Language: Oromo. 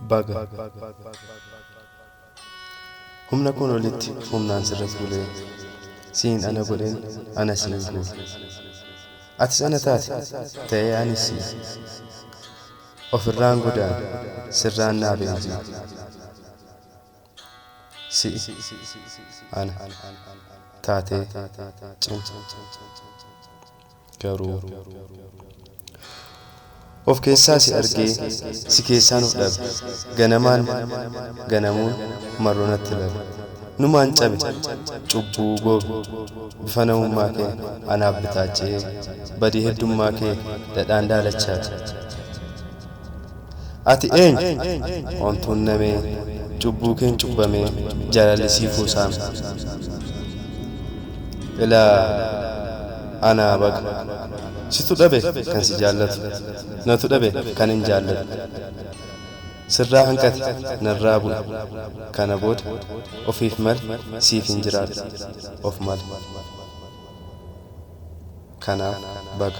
baga humna kun olitti humnaan sirra fuulee siin ana godheen ana siin guure atis ana taate ta'ee anis siin ofirraan godaan sirraan naa beenjii Si'i ana taatee cimsa garuu Of keessaa si argee si keessaan of dhabe Ganamaan ganamuun marroo natti labe Numaan cabe cubbuu goobe Bifa namummaa kee anaaf bitaache'ee Badii heddummaa kee dhadhaan daalachaate Ati eenyu? Ontuun namee, Cubbuu keen cubbamee, Jaalalli sii kuusaame. Ilaa anaa baga. Situ dhabe kan si jaallatu, Natu dhabe kanin jaalladhu. Sirraa hanqate, narraa bu'e, Kana booda ofiif male, Siifin jiraadha of male. Kanaaf baga.